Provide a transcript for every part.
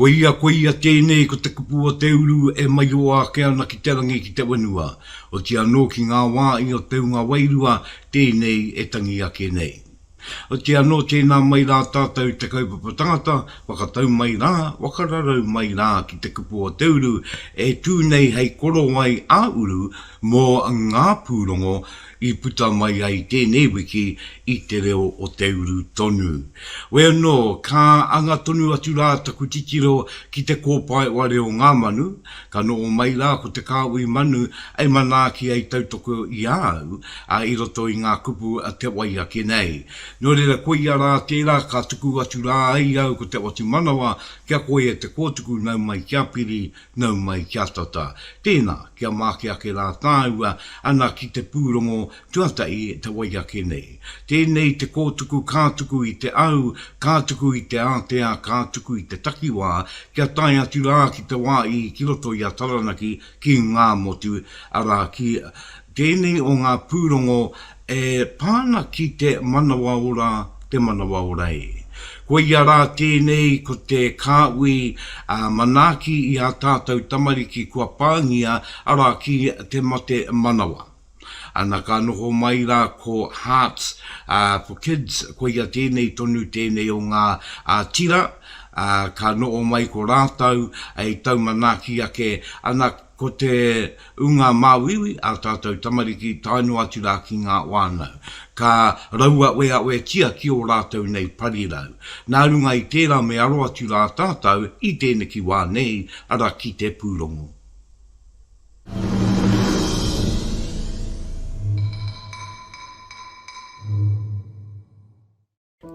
Koia, koia tēnei ko te kupu o te uru e maiō ake ana ki te rangi ki te whenua, oti anō ki ngā wā i o te hunga wairua tēnei e tangi ake nei. Oti anō tēnā mai rā tātou te kaupapa tangata, whakatau mai rā, whakararau mai rā ki te kupu o te uru e tū nei hei korowai ā-uru mō ngā pūrongo, i puta mai ai tēnei wiki i te reo o te uru tonu. We anō, ka anga tonu atu rā taku titiro ki te kōpaewa reo ngā manu, ka noho mai rā ko te kāhui manu e manaaki ai tautoko i a au i roto i ngā kupu a te wai ake nei. Nō reira koia rā tērā ka tuku atu rā ai au ko Te Whatumanawa kia koi e te kōtuku nau mai kia piri Nau mai ki a tata. Tēnā, kia māke ake rā tāua ana ki te pūrongo tuatahi te wai ake nei. Tēnei te kōtuku ka tuku i te au, ka tuku i te ātea, ka tuku i te takiwā, kia tae atu rā ki te wā i ki roto i a Taranaki ki ngā motu, arā, ki tēnei o ngā pūrongo E pā ana ki te manawaora te manawaora e. Koia rā tēnei ko te Kāhui ā manaaki i ā tātou tamariki kua pāngia arā ki te mate manawa. Ana ka noho mai rā ko Hearts for Kids koia tēnei tonu tēnei o ngā tira ā ka noho mai ko rātou i tau manaaki ake ana Ko te ūnga māuiui ā tātou tamariki tae noa atu rā ki ngā whānau, ka rauaweawetia ki ō rātou nei parirau. Nā runga i tērā me aro atu rā tātou i tēneki wā nei, arā ki te pūrongo.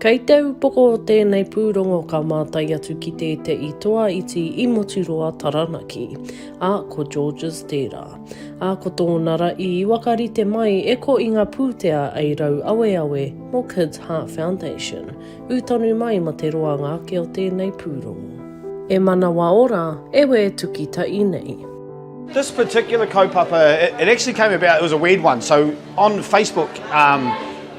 Kei te upoko o tēnei pūrongo ka mātai atu ki tēteʻi toa iti i Moturoa Taranaki, a ko Georges tērā. A ko tōna ra i wakarite mai e ko i nga pūtea ei rau aweawe mo Kids Heart Foundation, ū tonu mai ma te roanga ake o tēnei pūrongo. E manawa ora, e we tuki taʻi nei. This particular kaupapa, it actually came about, it was a weird one, so on Facebook, um,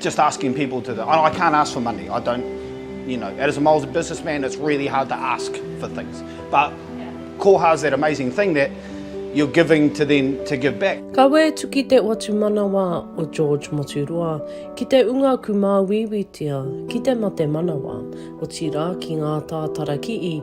Just asking people to do, I can't ask for money, I don't, you know, as a Māori businessman it's really hard to ask for things. But koha is that amazing thing that you're giving to then to give back. Ka waitu ki te watumanawa o George Moturoa, ki te unga kumāuiuitia, ki te mate manawa, otirā ki ngā tātara kii,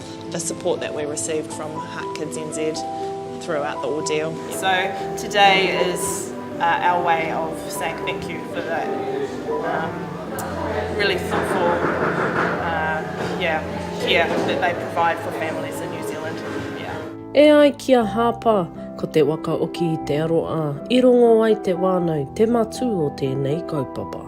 the support that we received from Heart Kids NZ throughout the ordeal. So today is our way of saying thank you for the really thoughtful yeah, care that they provide for families in New Zealand. Yeah. E ai ki a Hāpa, ko te waka oki i te aroā, i rongo ai te wānau te matū o tēnei kaupapa.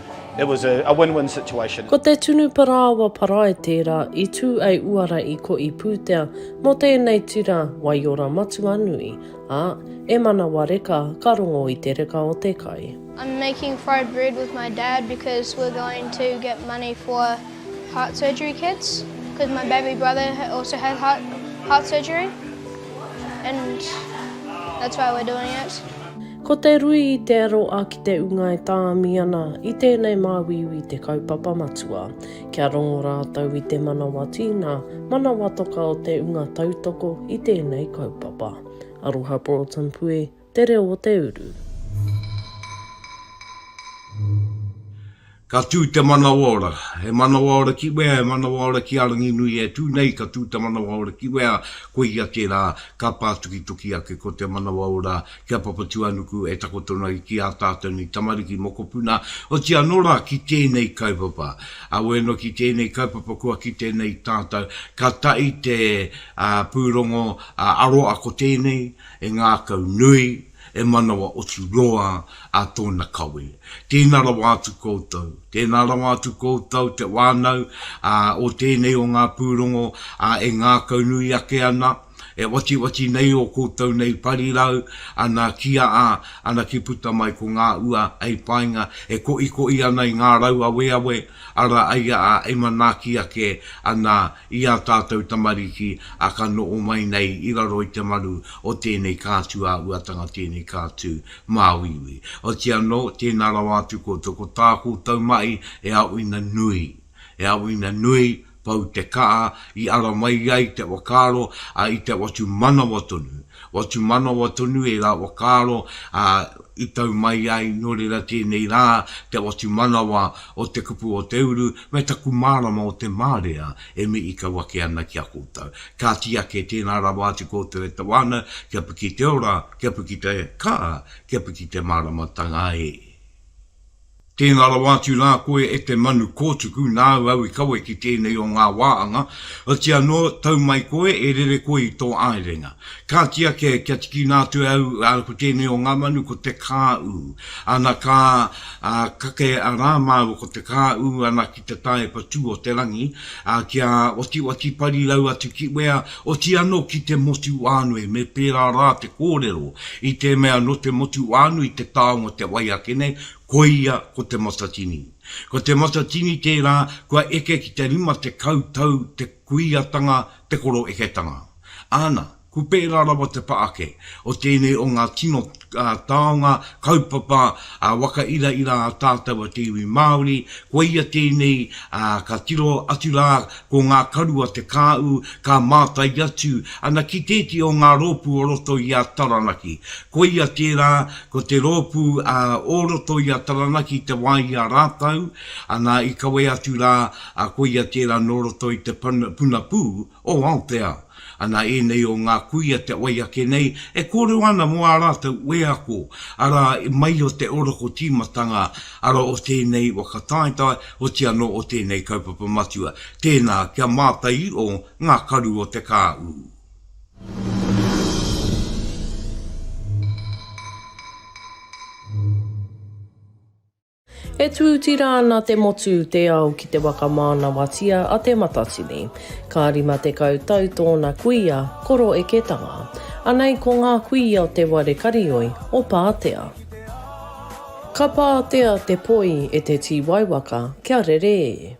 It was a, a win-win situation. Ko te tunu parāoa parae tērā i tū ai uara i ko i pūtea mō tēnei tira waiora matua nui, ā, e manawa reka ka rongo i te reka o te kai. I'm making fried bread with my dad because we're going to get money for heart surgery kits because my baby brother also had heart, heart surgery and that's why we're doing it. Ko te rui i te aro a ki te unga e tāmi ana i tēnei māuiui te kaupapa matua, kia rongo rātou i te manawa tīna, manawa toka o te unga tautoko i tēnei kaupapa. Aroha Broughton Pue, Te Reo o te Uru. Ka tū te manawaora, he manawaora ki wea, he manawaora ki a Ranginui e tū nei, ka tū te manawaora ki wea, koia tērā ka pātukituki ake ko te manawaora ki a Papatūānuku e takoto nei ki ā tātou nei tamariki, mokopuna, oti anō rā ki tēnei kaupapa. Awēnā ki tēnei kaupapa kua kite nei tātou ka taʻi te pūrongo aroa ko tēnei e ngākau nui, E manawa oti roa a tōna kawe. Tēnā rawa atu koutou. Tēnā rawa atu koutou te wānau o tēnei o ngā pūrongo e ngākau nui ake ana, e watiwati nei ō koutou nei parirau, ana ki a a, ana ki puta mai ko ngā ua hei painga, e koʻikoʻi ana i ngā rau aweawe, ara ai a a e manaaki ake ana i ā tātou tamariki a ka noho mai nei i raro i te manu o tēnei kātū āhuatanga, tēnei kātū māuiui. Otiia anō, tēnā rawa atu koutou, ko tā koutou mahi e auina nui, e auina nui, pau te kaha i ara mai ai te whakaaro, ā, i te watu manawa tonu, Watu manawa tonu e ngā whakaaro a i tau mai ai, nō reira tēnei rā, te watu manawa o te kupu o te uru, me taku mārama o te mārea e mihi kau ake ana ki a koutou. Ka tī ake tēnā rawa atu koutou e te wānau, kia piki te ora, kia piki te kaa, kia piki te māramatanga e. Tēnā rawa atu rā koe e te manu kōtuku, nāu au i kawe ki tēnei o ngā wā anga, otirā anō, tau mai koe, e rere koe i tō āerenga. Kāti ake, kia tikina atu e au, ā, ko tēnei o ngā manu, ko te kāū. Ana ka, ā, kake rā māua ko te kāū ana ki te tāepa tū o te rangi, ā, kia otioti parirau atu ki wea, otirā anō ki te motu whānui, me pērā rā te kōrero i te mea nō te motu whānui te taonga te wai ake nei, Koia ko Te Matatini. Ko Te Matatini tērā kua eke ki te rima tekau tau te kuiatanga, te koroeketanga. Āna, ko pērā rawa te pa ake o tēnei o ngā tino taonga kaupapa waka iraira a tātau a te iwi Māori, koia tēnei ka tiro atu rā Ko ngā karu a Te Kāu ka mātai atu ana ki tēti o ngā rōpū o roto i a Taranaki. Koia tērā, ko te rōpū o roto i a Taranaki te wā i a rātau, ana i kawe atu rā, koia tērā nō roto i te puna pū o Aoteao. Ana ēnei o ngā kuia te wai ake nei e kōrero ana mō ā rātou wheako, arā, i mai o te oroko tīmatanga, arā, o tēnei waka taetae, oti anō o tēnei kaupapa matua, tēnā, kia mātai i o ngā karu o te kāu. E tuuti ra ana te motu, te ao ki te wakamanawatia a Te Matatini. Ka rima tekau tau toona kuia, ko Roeketanga. Anei ko nga kuia o te ware karioi o Paatea. Ka paatea te poi e te tiwaiwaka kia rere e.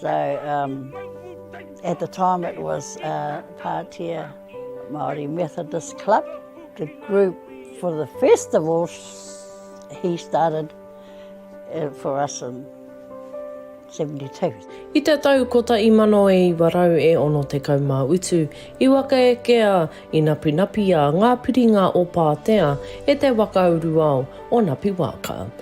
So um, at the time it was uh, Pātea Māori Methodist Club, the group for the festivals he started uh, for us in 72. I te tau kota i mano e iwa rau e ono te kau mā utu, i waka e kea, i napi napi a ngā piringa o Pātea e te waka uruao o Napi Wāka.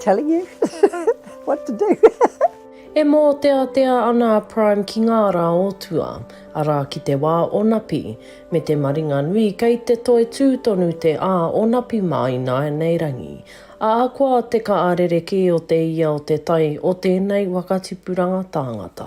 Telling you what to do. E mōteatea ana a Prime ki ngā rā o tua, arā ki te wā o Napi, me te maringa nui kei te toe tū tonu te a o Napi mā ināianei rangi. Ahakoa te ka a rerekē o te ia o te tai o tēnei waka tipuranga tāngata.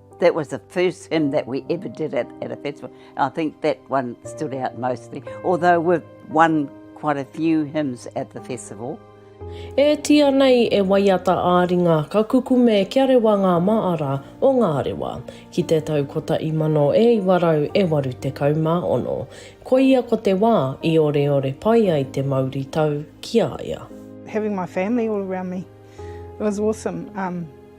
That was the first hymn that we ever did at, at a festival. I think that one stood out mostly, although we've won quite a few hymns at the festival. E tia nei e waiata a ringa ka kukume kia rewa ngā maara o ngā rewa. Ki te tau kotahi mano e iwa rau e waru tekau mā ono. Koia ko te wā i oreore pai ai te mauritau ki a ia. Having my family all around me, it was awesome. Um,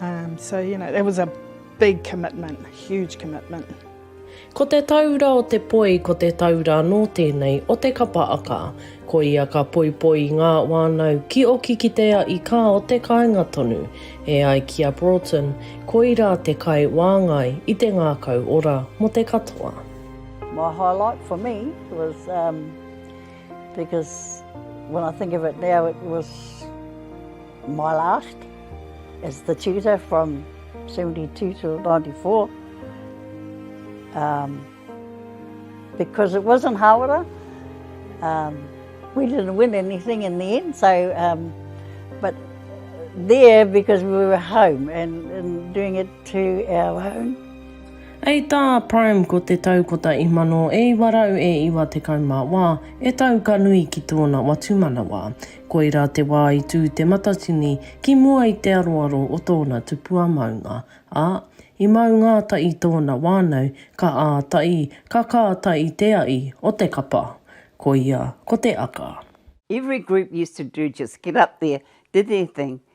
Um, so, you know, that was a big commitment, huge commitment. Ko te taura o te poi, ko te taura anō tēnei o te kapa aka. Ko ia ka poipoi i ngā wānau ki oki ki te a i kā o te kāinga tonu. E ai ki a Broughton, koirā te kai wāngai i te ngākau ora mō te katoa. My highlight for me was um, because when I think of it now, it was My last as the tutor from 72 to 94 um, because it wasn't hawara um, we didn't win anything in the end so um, but there because we were home and, and doing it to our own. Ei tā Prime ko te tau kota i mano e iwa rau e iwa te kaumā wā, e tau ka nui ki tōna watumanawa. Koirā te wā i tū te Matatini ki mua i te aroaro o tōna tupua maunga, ā, i mau ngāta i tōna wānau ka āta i, ka kāta i te aʻi o te kapa. Koia ko te aka. Every group used to do just get up there, did their thing,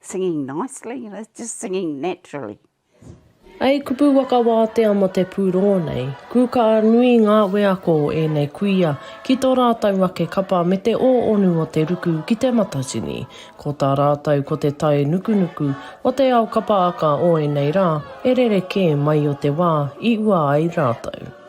Singing nicely, just singing naturally. Hei kupu waka wātea mō te pūrongo nei, kūkā nui ngā wheako o ēnei kuia ki tō rātou ake kapa me te ōonu o te ruku ki Te Matatini. Ko tā rātou ko te tae nukunuku o te ao kapa aka o ēnei rā e rerekē mai o te wā i ua ai rātou.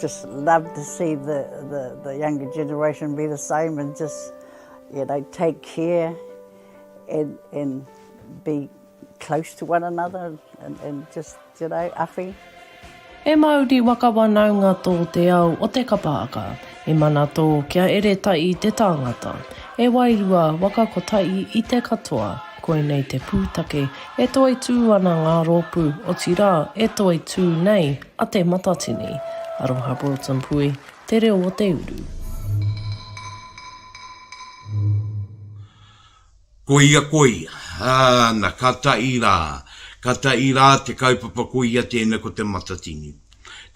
Just love to see the the the younger generation be the same and just you know take care and and be close to one another and and just you know awhi. He mauri waka wanaunga tō te ao o te kapaaka. I mana tō kia ere taʻi te tāngata. E wairua waka ko taʻi i te katoa. Koinei te pūtake e toitū ana ngā rōpū, otirā, e toitū nei. A Te Matatini. Aroha Broughton Pui, te reo o te uru. Koia koia, ana ka taʻi rā, ka taʻi rā te kaupapa koia tēnei ko Te Matatini.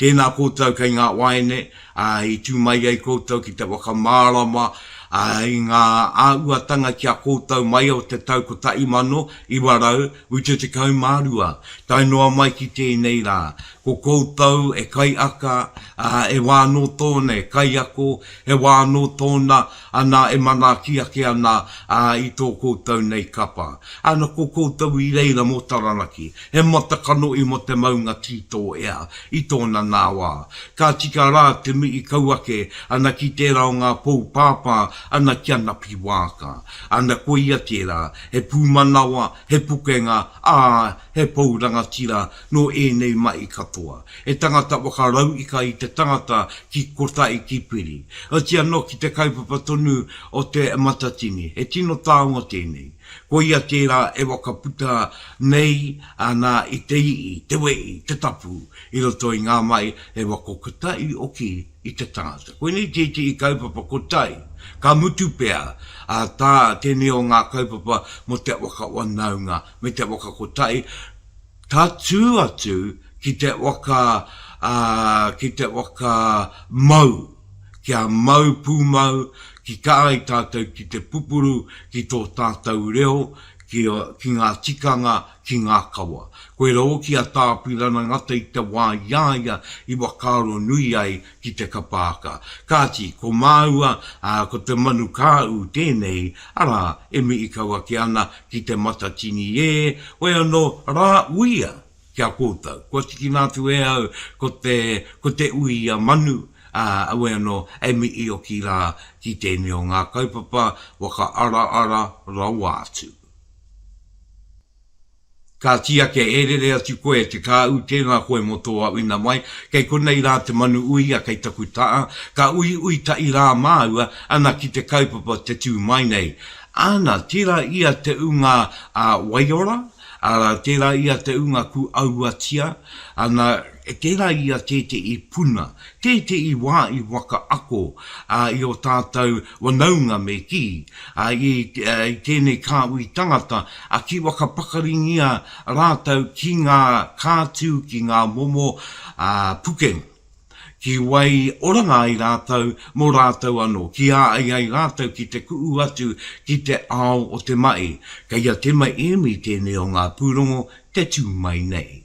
Tēnā koutou kei ngā waeine, ā, i tū mai ai koutou ki te whakamārama, ā, i ngā āhuatanga ki a koutou mai o te tau 1900 I te 12, tae noa mai ki tēnei rā, ko koutou e kaiaka, ā, e wā anō tōna e kaiako, e wā anō tōna, anā, e manaaki ake ana, ā, i tō koutou nei kapa. Ana ko koutou i reira mō Taranaki, he matakanohi mō te maunga tītō ea, i tōna nā wā. Ka tika rā te mihi kau ake ana ki tērā o ngā pou pāpā ana ki a Napi Waaka. Ana koia tērā, he pūmanawa, he pukenga, ā, he pou rangatira nō ēnei mahi katoa. He tangata whakarauika i te tangata ki kotahi ki Piri. Oti anō ki te kaupapa tonu o Te Matatini, he tino taonga tēnei. Koia tērā e whakaputa nei ana i te ii, te wei, te tapu i roto i ngā mahi he wako kotahi hoki. i te tangata. Koinei tētehi kaupapa ko tai, ka mutu pea, ā, tā tēnei o ngā kaupapa mō te waka wanaunga me te waka ko tai, tatū atu ki te waka, ā, ki te waka mau, kia mau pūmau, ki kā ai tātou ki te pupuru ki tō tātou reo, ki ngā tikanga, ki ngā kawa. Koira hoki a Tā Apirana Ngata i te wā i a ia i whakaaro nui ai ki te kapa aka. Kāti, ko māua, ā, ko te manu kāu tēnei, arā, e mihi kau ake ana ki Te Matatini ē, hoi anō rā uia ki a koutou. Kua tikina atu e au ko te, ko te uia manu, ā, aue anō, e mihi hoki rā ki tēnei o ngā kaupapa whakaaraara rawa atu. Ka tia ke ērere atu koe e te kāu, tēnā koe mō tō auina mai, kei konei rā te manu uia kei taku taa, ka uiui taʻi rā māua, ana ki te kaupapa te tū mai nei. Ana, tērā ia te unga a Waiora, ara, tērā ia te unga ku auatia, ana, tērā ia tēteʻi puna, tēteʻi wā i waka ako, a, i o tātou Whanaunga me kī, ā, i, ā, i tēnei kāhui tangata, ā, ki whakapakaringia rātou ki ngā kātū, ki ngā momo, ā, pukeng, ki wai oranga ai rātou mō rātou anō, ki ā ai ai rātou ki te kuʻu atu ki te ao o te maʻi. Kei a Tema Emi tēnei o ngā pūrongo te tū mai nei.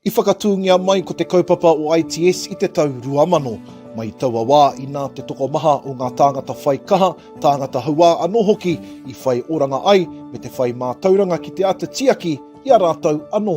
I whakatūngia mai ko te kaupapa o ITS i te tau 2000. Mai taua wā, inā te tokomaha o ngā tāngata whai kaha, tāngata hauā anō hoki i whai oranga ai me te whai mātauranga ki te āta tiaki i a rātou anō.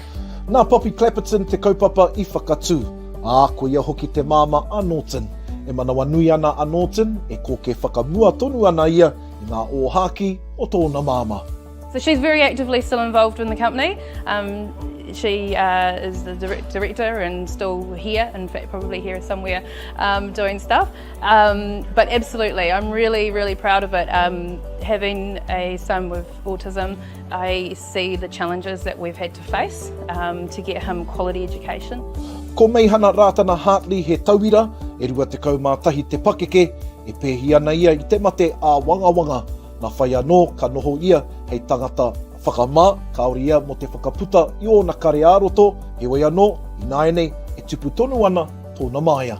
Nā Poppy Clapperton te kaupapa i whakatū, ā, ko ia hoki te māmā a Norton. E manawanui ana a Norton, e kōkē whakamua tonu ana ia i ngā ōhākī o tōna māmā. So she's very actively still involved in the company. Um, she uh, is the direct director and still here, in fact, probably here somewhere um, doing stuff. Um, but absolutely, I'm really, really proud of it. Um, having a son with autism, I See the challenges that we've had to face to get him quality education. Ko Meihana Rātana Hartley he tauira, e 21 te pakeke, e pēhi ana ia i te mate āwangawanga. Nā whai anō ka noho ia hei tangata whakamā, kāore ia mō te whakaputa i ōna kare ā-roto, heoi anō, ināianei e tupu tonu ana tōna māia.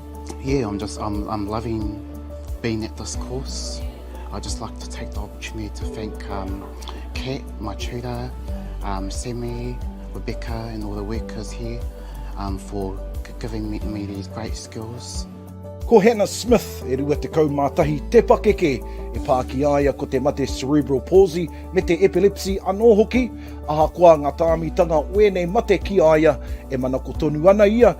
Yeah, I'm just I'm I'm loving being at this course. I just like to take the opportunity to thank um, Kat, my tutor, um, Sammy, Rebecca, and all the workers here um, for giving me, me these great skills. Ko Hannah Smith, e rua te kaumātahi, te pakeke, e pā ki aia ko te mate cerebral palsy me te epilepsy anō hoki, ahakoa ngā tāmitanga o ēnei mate ki aia, e manako tonu ana ia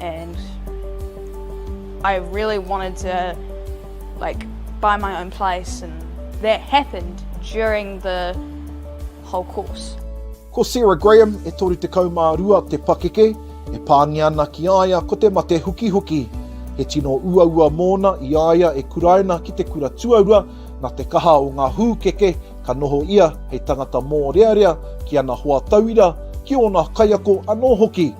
and I really wanted to like buy my own place and that happened during the whole course. Ko Sarah Graham, e 32 te pakeke, e pāngia ana ki a ia ko te mate hukihuki. He tino uaua mōna i a ia e kuraina ki te kura tuarua, nā te kaha o ngā hūkeke ka noho ia hei tangata mōrearea ki ana hoa tauira, ki ōna kaiako anō hoki,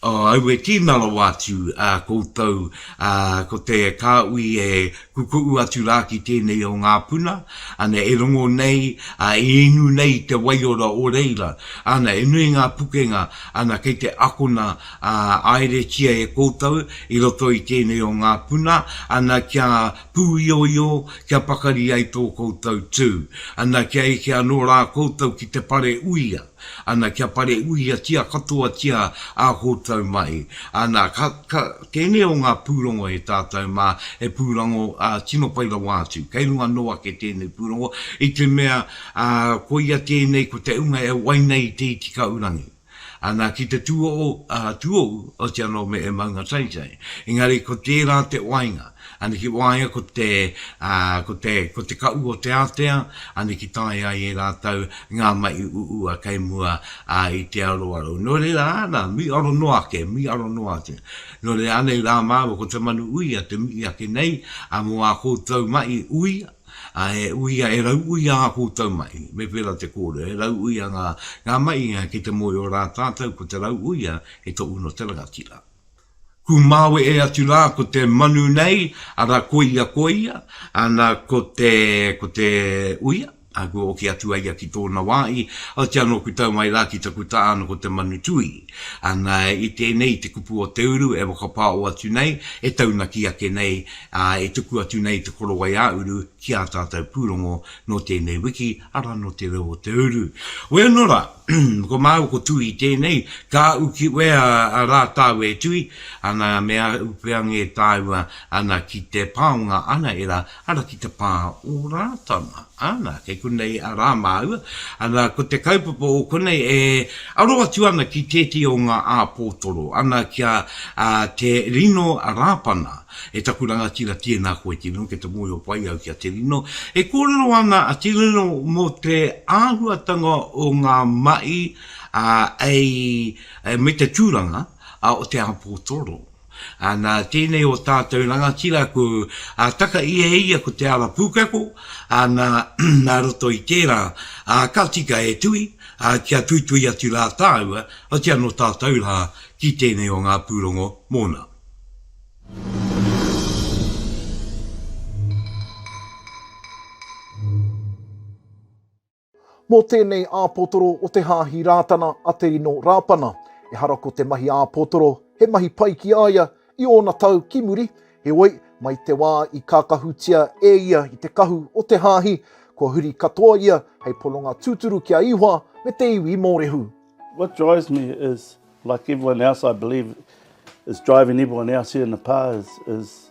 Aue tīna rawa atu koutou ko te Kāhui e kukuʻu atu rā ki tēnei o ngā puna, ana e rongo nei, e inu nei i te waiora o reira, ana e nui ngā pukenga, ana kei te akona āeretia e koutou i roto i tēnei o ngā puna, ana kia pūioio kia pakari ai tō koutou tū, ana kia eke anō rā koutou ki te pare uia, ana kia pare uiatia katoatia ā koutou mahi, ana ka, ka, tēnei o ngā pūrongo e tātou mā, he pūrongo ā, tino pai rawa atu, kei runga anō ake tēnei pūrongo, i te mea, ā, koia tēnei ko te ūnga e wai nei i te iti kaurangi. Ana ki te tuohu, tuohu o te anō me e maunga taitai. Engari ko tērā te wainga, ana ki waia ko te, ko te, ko te kaʻu o te ātea, ana ki tae ai e rātou ngā maʻi uua kei mua i te aroaro. Nō reira, ana, miʻaro noa ake, miʻaro noa ake. Nō reira, anei rā māua ko te manu uia te mihi ake nei mō ā koutou maʻi uia, Ā, e uia, e rauuia ā koutou mahi. Me pērā te kōrero, he rauuia ngā, ngā mahi kei te mōhio rā tātou ko te rauuia he toʻu nō te rangatira. Kūmāwe e atu rā ko te manu nei, arā koia, koia, ā, nā, ko te, ko te uia, ā, kua oke atu a ia ki tōna wā i, aoti anō ku tau mai rā ki taku taha ana ko te manu tuī. Ana i tēnei, i te kupu o te uru e whakapāo atu nei, e taunaki ake nei, ā, e tuku atu nei te korowai ā-uru ki ā tātou pūrongo nō tēnei wiki, arā, nō Te Reo o te Uru. Weu nō rā, ko māua ko Tū i tēnei, ka uki wea rā tāu e Tūi, ana me ahu pea ngē tāua, ana ki te pāonga anaera Ana ki te pā o Rātana. Ana, kei konei a Rā māua. Ana, ko te kaupapa o konei e aro atu ana ki tētehi o ngā āpōtoro. Ana, kia te rino Rāpana, e taku rangatira, tēnā koe tino, kia te mōhio pai au ki a te rino. E kōrero ana a te rino mō te āhuatanga o ngā mahi, ā, me te tūranga o te āpōtoro. Ā, nā tēnei o tātou rangatira kū, ā, taka ia e ia ko te ara pūkeko, ā, nā, nā roto i tērā, ā, ka tika e tui, ā, kia tuitui atu rā tāua, otirā nō tātou rā, ki tēnei o ngā pūrongo mōna. Mō tēnei āpotoro o te Hāhi Rātana a Te Ino Rāpana, ehara ko te mahi āpotoro he mahi pai ki a ia i ōna tau ki muri, heoi, mai te wā i kākahutia e ia i te kahu o te Hāhi, kua huri katoa ia hei pononga tūturu ki a Ihoa me te iwi Mōrehu. What drives me is, like everyone else I believe is driving everyone else here in the pa is, is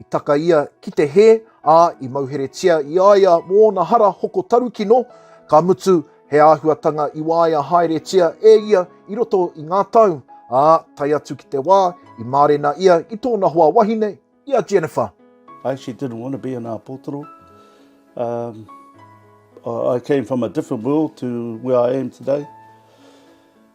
I taka ia ki te hē, ā, i mauheretia i a ia mō ōna hara hoko tarukino, ka mutu, he āhuatanga i waea haeretia e ia i roto i ngā tau, ā, tae atu ki te wā i mārena ia i tōna hoa wahine, i a Jennifer. I actually didn't want to be an āpotoro. Um, I came from a different world to where I am today.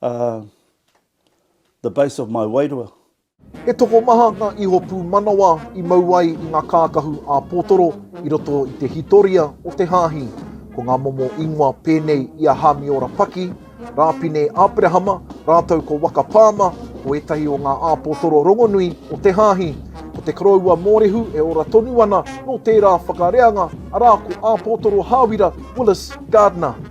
the base of my wairua. He tokomaha ngā iho pūmanawa i mau ai i ngā kākahu ā-pōtoro i roto i te hitoria o te hāhi. Ko ngā momo ingoa pēnei i a Hāmiora Paki, Rāpine Aperahama rātou ko Waka Pāma ko ētahi o ngā āpōtoro rongonui o te hāhi. Ko te koroua mōrehu e ora tonu ana nō tērā whakareanga arā ko Āpōtoro Hāwira Willis Gardiner.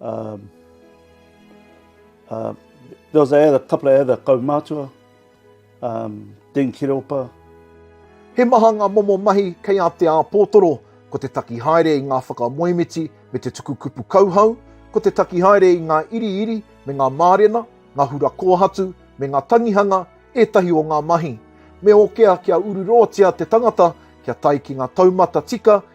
Um, uh, there was a couple of other kaumātua, um, Dean Kireopa. He maha ngā momo mahi kei a Te Āpōtoro, ko te taki haere i ngā whakamoemiti me te tuku kupu kauhau, ko te taki haere i ngā iriiri me ngā mārena, ngā hura kōhatu me ngā tangihanga ētahi o ngā mahi. Me okea kia ururoatia te tangata kia tae ki ngā taumata tika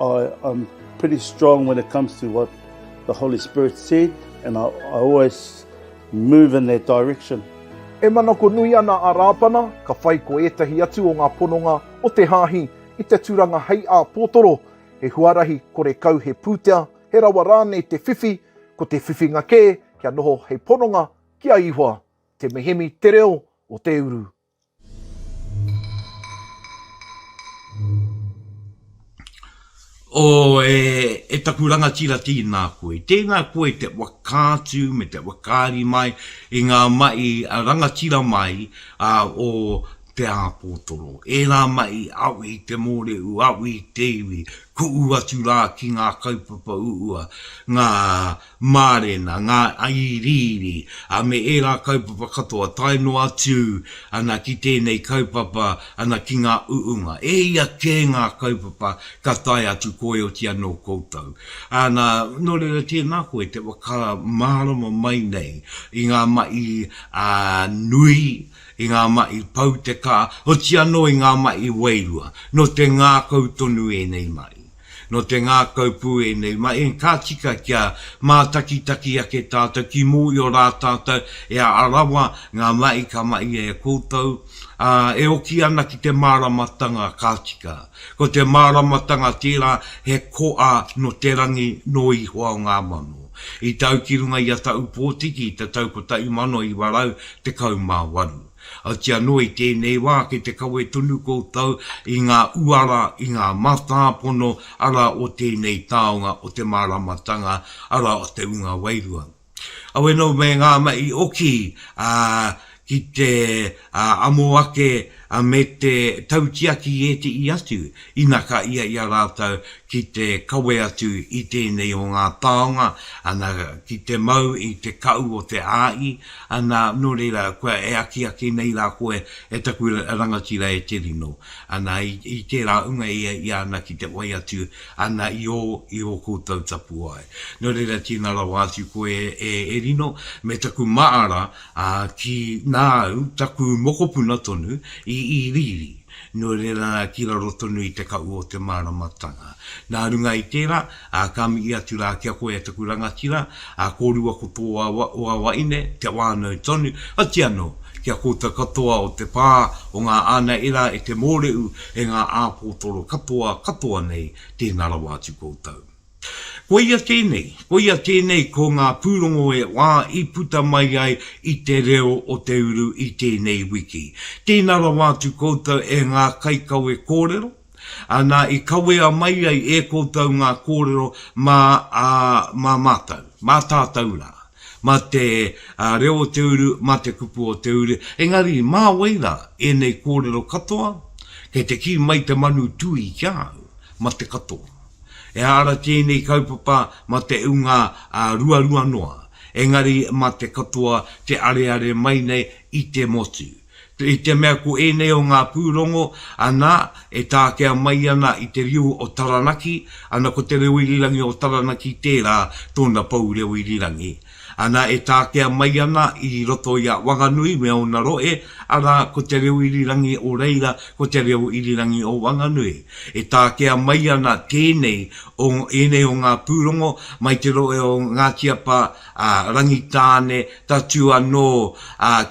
I am pretty strong when it comes to what the Holy Spirit said and I, I always move in that direction. E manako nui ana a Rāpana, ka whai ko ētahi atu o ngā pononga o te Hāhi i te turanga hei āpōtoro, he huarahi kore kau he pūtea, he rawa rānei te whiwhi, ko te whiwhinga kē kia noho hei pononga ki a Ihoa. Te mihemi te reo o te uru. O, e, e taku rangatira tīnā koe. Tēnā koe te whakaatu me te whakaari mai i ngā mahi a rangatira mai a o Te Āpōtoro. Ērā mahi au i te mōrehu, au i te iwi, kuʻu atu rā ki ngā kaupapa uua, ngā. Mārena, ngā iriiri, ā, me ērā kaupapa katoa, tae noa atu ana ki tēnei kaupapa ana ki ngā uunga. E ia kē ngā kaupapa ka tae atu koeoti anō koutou. Ana, nō reira tēnā koe te whakamārama mai nei i ngā maʻi nui, i ngā maʻi pau te kā, oti anō i ngā maʻi wairua. Nō te ngākau tonu ēnei maʻi. Nō te ngākau pū ēnei mahi, ka tika kia mātakitaki ake tātou ki mōhio rā tātou e Arawa ngā mahi ka mahia e koutou, ā, e oki ana ki te māramatanga ka tika. Ko te māramatanga tērā he koa nō te rangi nō Ihoa o ngā mano. I tau ki runga i a Taupōtiki i te tau 1918. Oti anō i tēnei wā kei te kawe tonu koutou i ngā uara, i ngā matāpono ara o tēnei taonga o te māramatanga ara o te ūnga wairua. Awe nō me ngā mahi oki ki te amo ake me te tautiaki i ētehi atu ina ka ia i a rātou ki te kawe atu i tēnei o ngā taonga, ana, ki te mau i te kahu o te āhi, Ana, nō reira, kua e akiaki nei rā koe e taku rangatira e te rino. Ana, i tērā unga ia i a ana ki te whai atu ana i ō, i ō koutou tapuwae. Nō reira, tīna rawa atu koe e rino, me taku māra, ā, ki, nā au, taku mokopuna tonu, i, i riri, nō reira, ki raro tonu i te kaʻu o te māramatanga. Nā runga i tērā, Ā, ka mihi atu rā ki a koe e taku rangatira, ā, kōrua ko tō wawaine, kia whānau tonu, oti anō, ki a koutou katoa o te pā o ngā ānaera e te mōrehu e ngā āpōtoro katoa, katoa nei, tēnā rawa atu koutou. Koia tēnei, koia tēnei ko ngā pūrongo e whā i puta mai ai i te reo o te uru i tēnei wiki. Tēnā rawa atu koutou e ngā kaikawe kōrero, Ā, nā, i kawea mai ai e koutou ngā kōrero mā, ā, mā mātou, mā tātou rā, mā te, ā, reo o te uru, mā te kupu o te uru, engari mā wai rā ēnei kōrero katoa? Kei te kī mai te manu tūī ki a au, mā te katoa. He ara tēnei kaupapa mā te ūnga, ā, ruarua noa, engari mā te katoa te areare mai nei i te motu. I te mea ko ēnei o ngā pūrongo, anā, e tākea mai ana i te reo o Taranaki, anā, ko te reo irirangi o Taranaki tērā, tōna pou reo irirangi. Anā, e tākea mai ana i roto i a Wanganui me ōna rohe, arā, ko te reo irirangi o reira, ko te reo irirangi o Wanganui. E tākea mai ana tēnei o ēnei o ngā pūrongo mai te rohe o Ngāti Apa, a Rangitāne, tatū anō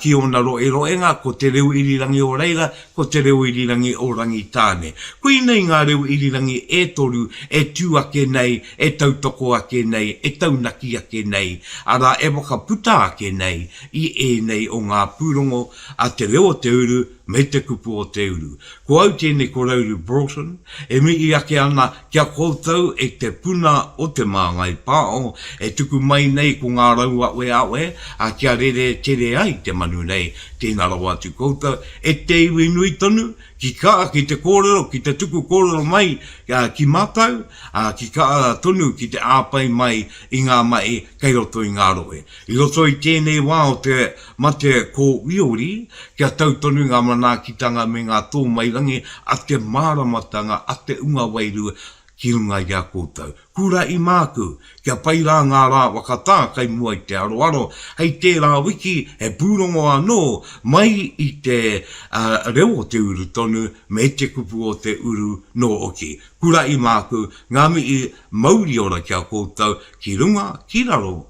ki ōna roeroenga, ko Te Reo Irirangi o reira, ko Te Reo Irirangi o Rangitāne. Koinei ngā reo irirangi e toru e tū ake nei, e tautoko ake nei, e taunaki ake nei, arā, e whakaputa ake nei i ēnei o ngā pūrongo a Te Reo o te Uru, Me te kupu o te uru. Ko au tēnei ko Rauru Broughton, e mihi ake ana ki a koutou e te puna o Te Māngai Pāo, e tuku mai nei ko ngā rauaweawe a kia rere tere ai te manu nei, tēnā rawa atu koutou e te iwi nui tonu, ki ka ki te kōrero, ki te tuku kōrero mai ki mātou, ā, ki ka tonu ki te āpai mai i ngā mahi kei roto i ngā rohe. I roto i tēnei wā o te. Mate ko Wiori, kia tau tonu ngā manaakitanga me ngā tōmairangi a te māramatanga a te unga wairua ki runga i a koutou. Kuraʻi māku, kia pai rā ngā rā wakatā kai mua i te aroaro, hei tērā wiki he pūrongo anō mai i te reo o te uru tonu me te kupu o te uru nō oki. Kuraʻi māku, ngā mihi mauri ora ki a koutou ki runga, ki raro,